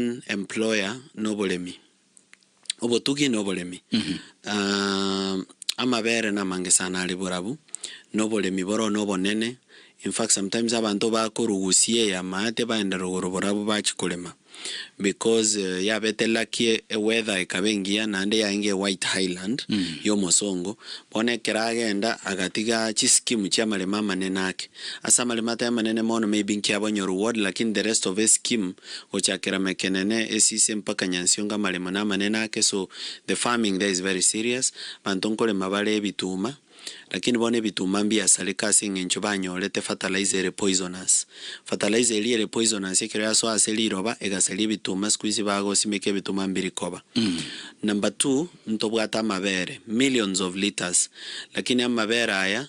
One employer na oboremi, obotugi na oboremi. Amabere namange sana are borabu na oboremi boro na obonene, in fact sometimes abanto bakorugusia eyamate baende rogoro borabu bachi korema because yabete lucky e weather ekaba engiya naende yaenge white highland ya omosongo bono ekero agenda agatiga chi scheme chia amaremo amanene ake. Ase amaremo ataria amanene mono maybe nkiabonye reward lakini the rest of escheme gochakera mekenene esise mpaka nyansiongo amaremo namanene ake so the farming there is very serious abanto nkorema bare ebituma lakini bono ebituma mbiasareka ase eng'encho banyorete fertilizer ere poisonous fertilizer eria ere poisonous ekero yasoa ase riroba egasaria ebituma sikuizi bagosimeka ebituma mbirikoba number two ntobwate amabere millions of litres lakini amabere aya